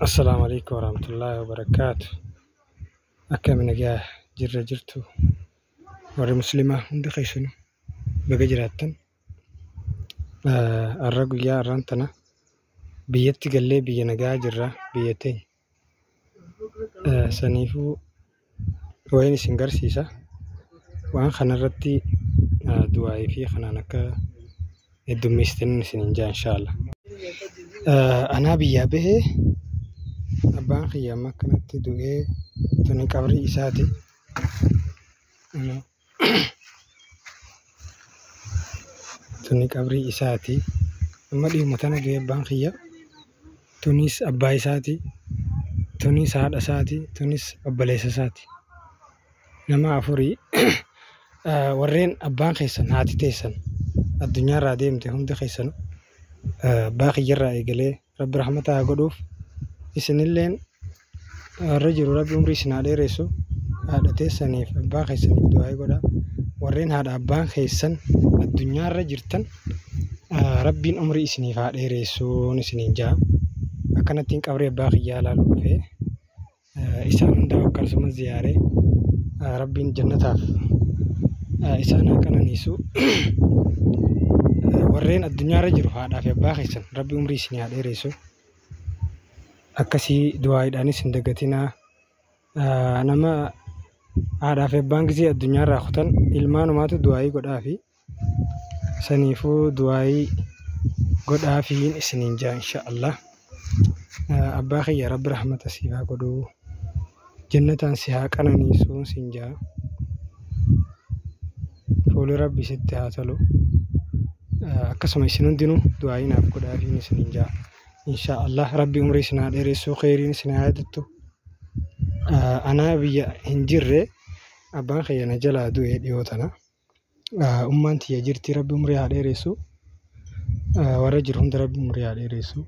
Assalaamu Aleeykum Warahmatullaahi Wabarakaatuh. Akkami nagaa jirra jirtu warri muslimaa hundi keessanu baga jiraattan. Har'a guyyaa har'aan tana biyyatti gallee biyya nagaa jirra biyya teenya. Saniifuu wayiin isin garsiisa. Waan kana irratti du'aa'ii fi kanaan akka heddummeessitan isiniin ja'a inshaalla. Anaa biyyaa bahee abbaan kiyya amma akkanatti du'ee tuni qabrii isaati. Tuni qabrii isaati. Amma dhiyooma tana gahe abbaan kiyya. Tunis abbaa isaati. Tunis haadha isaati. Tunis obboleessa isaati. Nama afuri. Warreen abbaan keessan, haati teessan addunyaa irraa deemte hundi keessanuu abbaa kiyya irraa eegalee Rabbi rahmata haa godhuuf isinilleen warra jiru rabbi umrii isin haa dheeressu haadha teessaniif abbaa keessaniif du'aa'ii godha warreen haadha abbaan keessan addunyaarra jirtan rabbiin umrii isiniif haa dheeressuun isiniin ja'a akkanattiin qabrii abbaa kiyyaa ilaaluu dhufee Isaan hunda akkasuma ziyaare Rabbiin jannataaf isaan haa qananiisu. Warreen addunyaarra jiru haadhaa fi abbaa keessan Rabbi umrii isinii haa dheeressu. Akkasii du'aayiidhaanis hin dagatinaa. Nama haadhaa fi abbaan gisee addunyaarraa kutan ilmaanumaatu du'aayii godhaafi. saniifuu du'aayii godhaafiin isiniin jaa insha Allah abbaa kiyya rabbi rahmata siif haa godhuu jannataan si haa qananiisuu siin jaa fuuli rabbi sitti haa tolu akkasuma isin hundinuu du'aayii naaf godhaafiin isiniin jaa insha Allah rabbi umrii isin haa dheeressuu kheyriin isin haa yaadattu anaa biyya hin jirre abbaan kiyya na jalaa du'e dhiyoo tana. Ummaan tiyya jirti rabbi umrii haa dheeressu. Warra jiru hunda rabbi umrii haa dheeressu.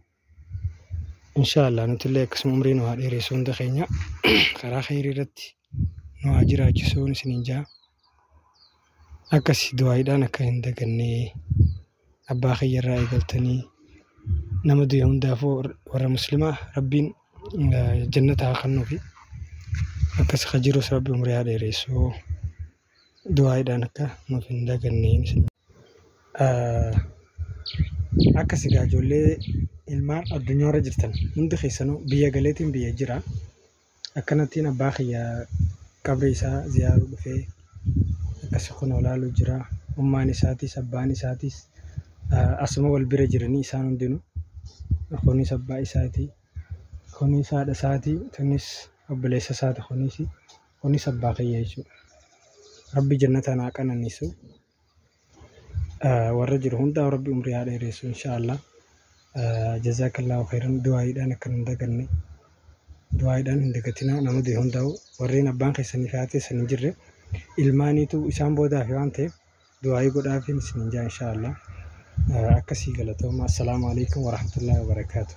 Inshaallah nutillee akkasuma umrii nu haa dheeressu hunda keenya. Karaa kheyrii irratti nu haa jiraachisuu isiniin ja'a. Akkasi du'aayiidhaan akka hin daganne abbaa kiyya irraa eegaltanii nama du'e hundaafuu warra muslimaa rabbiin jannata haa kannuufi. Akkas ka jirus rabbi umrii haa dheeressu. Du'aayiidhaan akka nuuf hin daganne isin. Akkasi gaa ijoollee ilmaan addunyaa irra jirtan hundi keessanuu biyya galeetiin biyya jira. Akkanattiin abbaa kiyya qabrii isaa ziyaaruu dhufee akkasi kun olaaluu jira. Ummaan isaatis abbaan isaatis asuma wal bira jiranii isaan hundinuu. Kunis abbaa isaatii, kunis haadha isaatii, kunis obboleessa isaati kunis. Kunis abbaa kiyya jechuudha. Rabbi jannataan haa qananiisu. Warra jiru hundaa rabbi umrii haa dheereessu inshaallah. Jazaakallaahu khayran du'aayiidhaan akka hin daganne. Du'aayiidhaan hin dagatinaa nama du'e hundaa'u warreen abbaan keessanii fi haati keessan hin jirre ilmaaniitu isaan boodaa fi waan ta'eef du'aayii godhaafiin isin hin jaa inshaallah. Akkasii galatooma. Assalaamu alaikum warahmatullaahi wabarakaatuh.